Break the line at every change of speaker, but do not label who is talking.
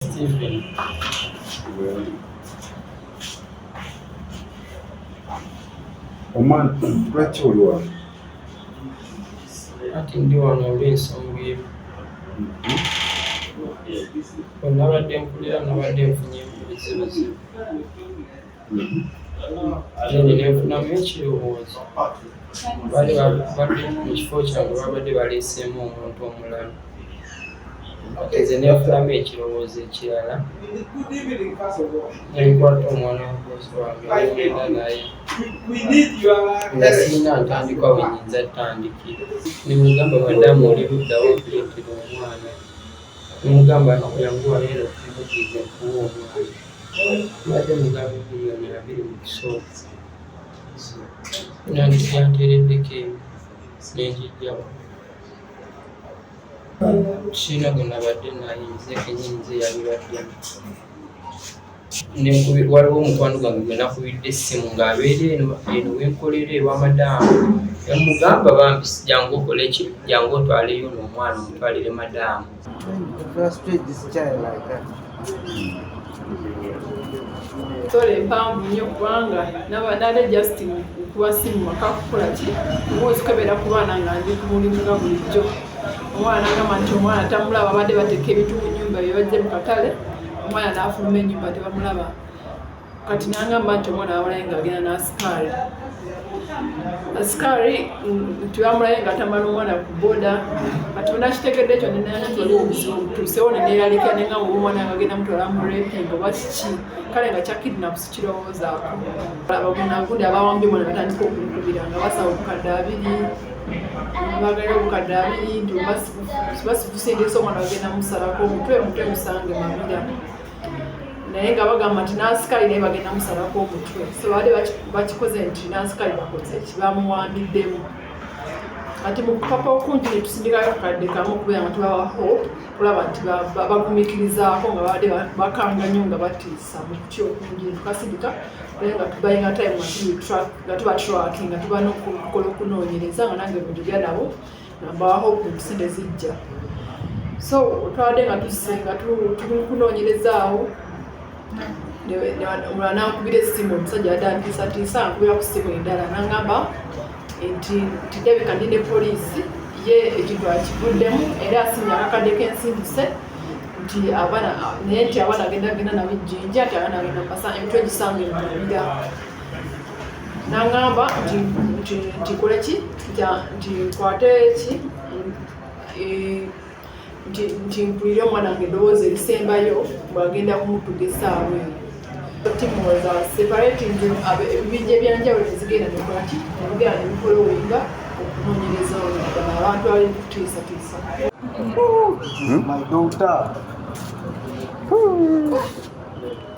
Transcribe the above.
Stephen.
Omwana lwaki oli wano?
Kati ndi wano olw'ensonga emu. Bwe nabadde nkulira nabadde nfunye ebizibuzibu. ate nze nenfunamu ekirowoozo bali babadde mu kifo kyange babadde baleeseemu omuntu omulala nze nenfunamu ekirowoozo ekirala nenkwata omwana wakozi wange nenda naye nga sirina ntandikwa wenyinza tandikira nemugamba madamu oli luddawo okuleetera omwana nemugamba yanguwa era okumugiza okuwa omwana mbadde mugabi biliyoni abiri mu kisooka nandikyanteereddeko eyo nenjijjawo kiina gwe nabadde naye nze kenyini nze yabibaddemu waliwo omukwano gwange gwe nakubidde essimu ng'abeera eno eno wenkolera ewa madaamu emugamba bambi jangu okole ki jangu otwaleyo n'omwana omutwalire madaamu
Tole empanvu nnyo kubanga nabadde just kuba si mu maka kukola ki omwozi kwebeera ku baana nga ndi ku mulimu nga bulijjo omwana agamba nti omwana tamulaba abadde bateeka ebintu mu nyumba byebajje mu katale omwana n'afuluma enyumba tebamulaba kati nangamba nti omwana awalaye nga agenda nasikaali asikaali nti bamulaye nga atamala omwana ku boda kati onakitegedde ekyo nenana nti waliwo obuzibu obutuusewo neneeralika nenga muba omwana nga agenda mutwala mu reping oba kiki kale nga kyakidnapu sikirowoozaako abagunagundi abawambye omwana batandika okumukubira nga basaba obukadde abiri bagala obukadde abiri nti basibusindisa omwana bagenda musalako omutwe omutwe musange mabira naye nga bagamba nti nansikaali naye bagenda musalako omutwe so baali bakikoze nti nansikaali bakoze kibamuwambiddemu kati mukupapa okungi netusindikayo akadde kamu okubeera nga tubawa hope kulaba nti bagumikirizaako nga babadde bakanga nyo nga batiisa mukuty okungi netukasindika naye nga tubayinga time nga tubatrack nga tuba nokukola okunoonyereza nga nange mujulya nabo nabaaho ensi ne zijja so otwade nga tusse nga tukunoonyerezaawo omulala nankubira essimu omusajja yadde antiisatiisa ankubira ku ssimu endala nangamba nti tidabika ndi ne poliisi ye ekintu akivuddemu era asinya akakadde k'ensimbuse nti abaana naye nti abaana agenda agenda nabo ejjinja nti abaana agenda mpasa emitwe egisange mubabira nangamba ntikole ki ntikwate ki nti mpulire omwana wange eddoboozi erisembayo bwagenda kumutuga esaawa eyo timuwoza separate nze ebibinja ebyanjawulo nezigenda nekola ki nebigenda nebikola owenga okunonyereza oludala abantu abali kutiisatiisa hmm?